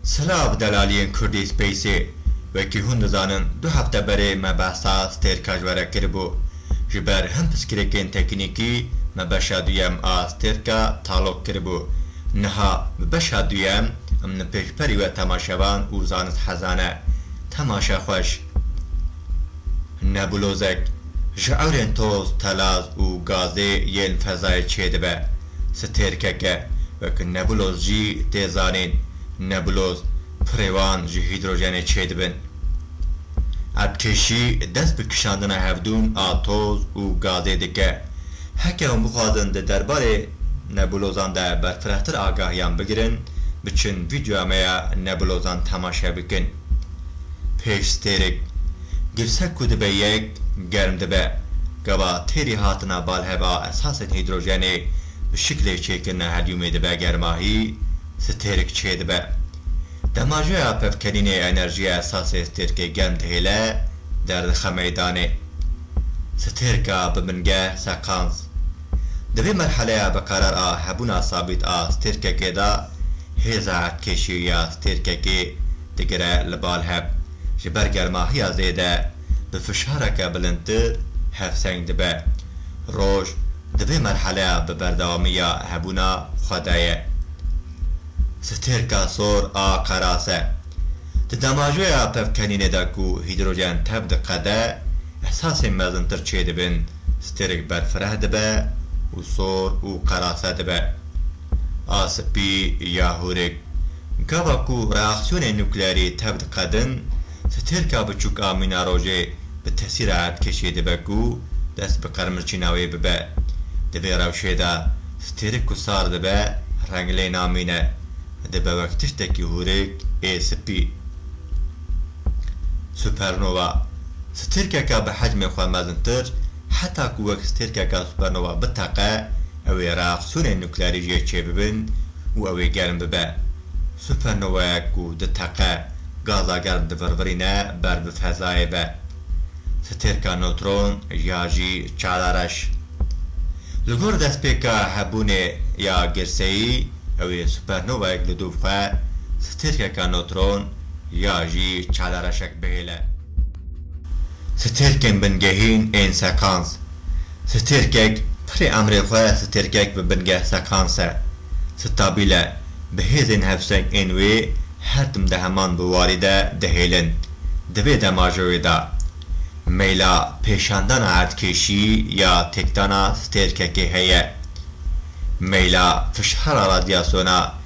Silav delaliyên Kurdî Space, Wekî hûn dizanin du hefte berê me behsa stêrka ji we re kiribû. Ji ber hin piskirêkên teknîkî me beşa duyem a stêrka talok kiribû. Niha bi beşa duyem em li pêşberî we temaşevan û zanist hezane. Temaşe xweş. Nebulozek ji ewrên toz, telaz û gazê yên fezayê çêdibe. Stêrkeke wek nebuloz jî tê zanîn. Nebuloz pirê wan ji hîdrojenê çêdibin. Ev kêşî dest bi kişandina hevdûn a toz û gazê dike. Heke hûn bixwazin di derbarê nebulozan de berfirehtir agahiyan bigirin, biçin vîdeoya me ya nebulozan temaşe bikin. Pêş stêrek, girsek ku dibe yek, germ dibe. Gava têrî hatina balheva esasên hîdrojenê bi şiklê çêkirina helyûmê dibe germahî, stêrek çêdibe. Demajeya pevkenînê enerjiya esasê stêrkê germ dihêle, derdixe meydanê. Stêrka bi bingeh, sekans. Di vê merheleya bikarar a hebûna sabît a stêrkekê de Hêza kêşî ya stêrkekê digire li bal hev. Ji ber germahiya zêde bi fişareke bilindtir hevseng dibe. Roj di vê merheleya bi berdewamî ya hebûna xwe de ye. Stêrka sor a qeras e. Di damajoya pevkenînê de ku hîdrojen tev diqede, esasên mezintir çêdibin, stêrk berfireh dibe û sor û qerase dibe. A Spî ya hûrik, Gava ku reaksiyonên nukleerî tev diqedin, sitêlka biçûk a mîna rojê bi tesîra erdkêşê dibe ku dest bi qermirçîna wê bibe. Di vê rewşê de sitêrik ku sar dibe reng lê namîne, dibe wek tiştekî hûrik ê spî. Supernova, Sitêlkeke bi hecmê xwe mezintir, heta ku wek stêrka gazsupernova biteqe, ew ê reaksiyonên nukleerî jê çêbibin û ew ê germ bibe. Supernowayek ku diteqe, gaza germ divirvirîne ber bi fezayê ve. Stêrka notron ya jî çalareş. Li gor destpêka hebûnê ya girseyî, ew ê supernowayek li dû bixe, stêrkeka notron ya jî çalareşek bihêle. Stêrkên bingehîn ên sekans Stêrkek pirê emrê xwe Stêrkek bi bingeh sekans e, stabil e, bi hêzên hevseng ên wê her tim di heman bi warî de dihêlin. Di vê demajowê de meyla pêşandana erdkêşî ya têkdana stêrkekê heye. Meyla fişara radyasona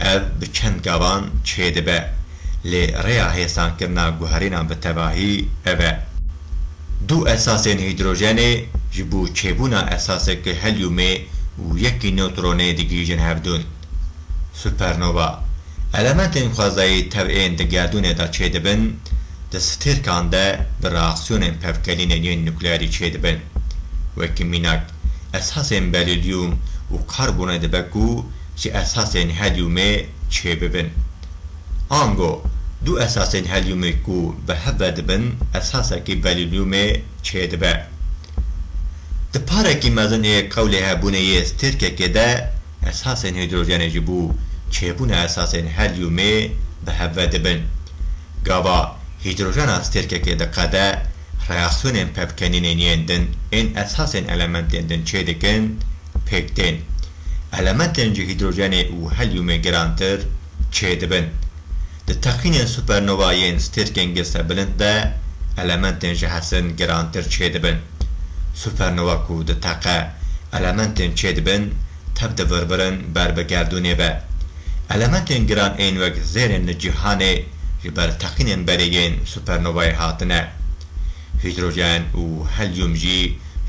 Ev bi çend gavan çêdibe, lê rêya hêsankirina guherînan bi tevahî ev e. Du esasên hîdrojenê ji bo çêbûna esaseke helyûmê û yekî newtronê digihîjin hevdûn. Supernova, elementên xwezayî tev ên di gerdûnê de çêdibin, di stêrkan de bi reaksiyonên pevkelînên yên nukleerî çêdibin. Wekî mînak, esasên berîlyûm û karbonê dibe ku ji esasên helyumê çêbibin. Ango du esasên helyumê ku bi hev ve dibin esasekî berilyumê çêdibe. Di parekî mezin ê qewlê hebûnê yê stêrkekê de esasên hîdrojenê ji bo çêbûna esasên helyumê bi hev ve dibin. Gava hîdrojena stêrkekê diqede reaksiyonên pevkenînên yên din ên esasên elementên din çêdikin, pêk tên. Elementên ji hîdrojenê û helyumê girantir çê dibin. Di teqînên supernova yên stêrkên girsebilind de elementên ji hesin girantir çê dibin. Supernova ku diteqe, elementên çê dibin tev divirvirin ber bi gerdûnê ve. Elementên giran ên wek zêrên li cîhanê ji ber teqînên berê yên supernovayê hatine. Hîdrojen û helyum jî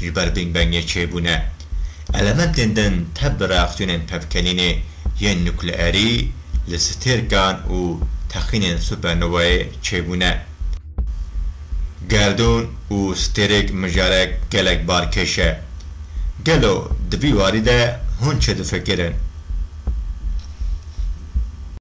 ji ber Bing Bangê çêbûne. Elementên din tev bi reaksiyonên tevkelînê yên nukleerî, li stêrkan û texînên supernovayê çêbûne. Gerdûn û stêrek mijarek gelek barkêş e. Gelo di vî warî de hûn çi difikirin?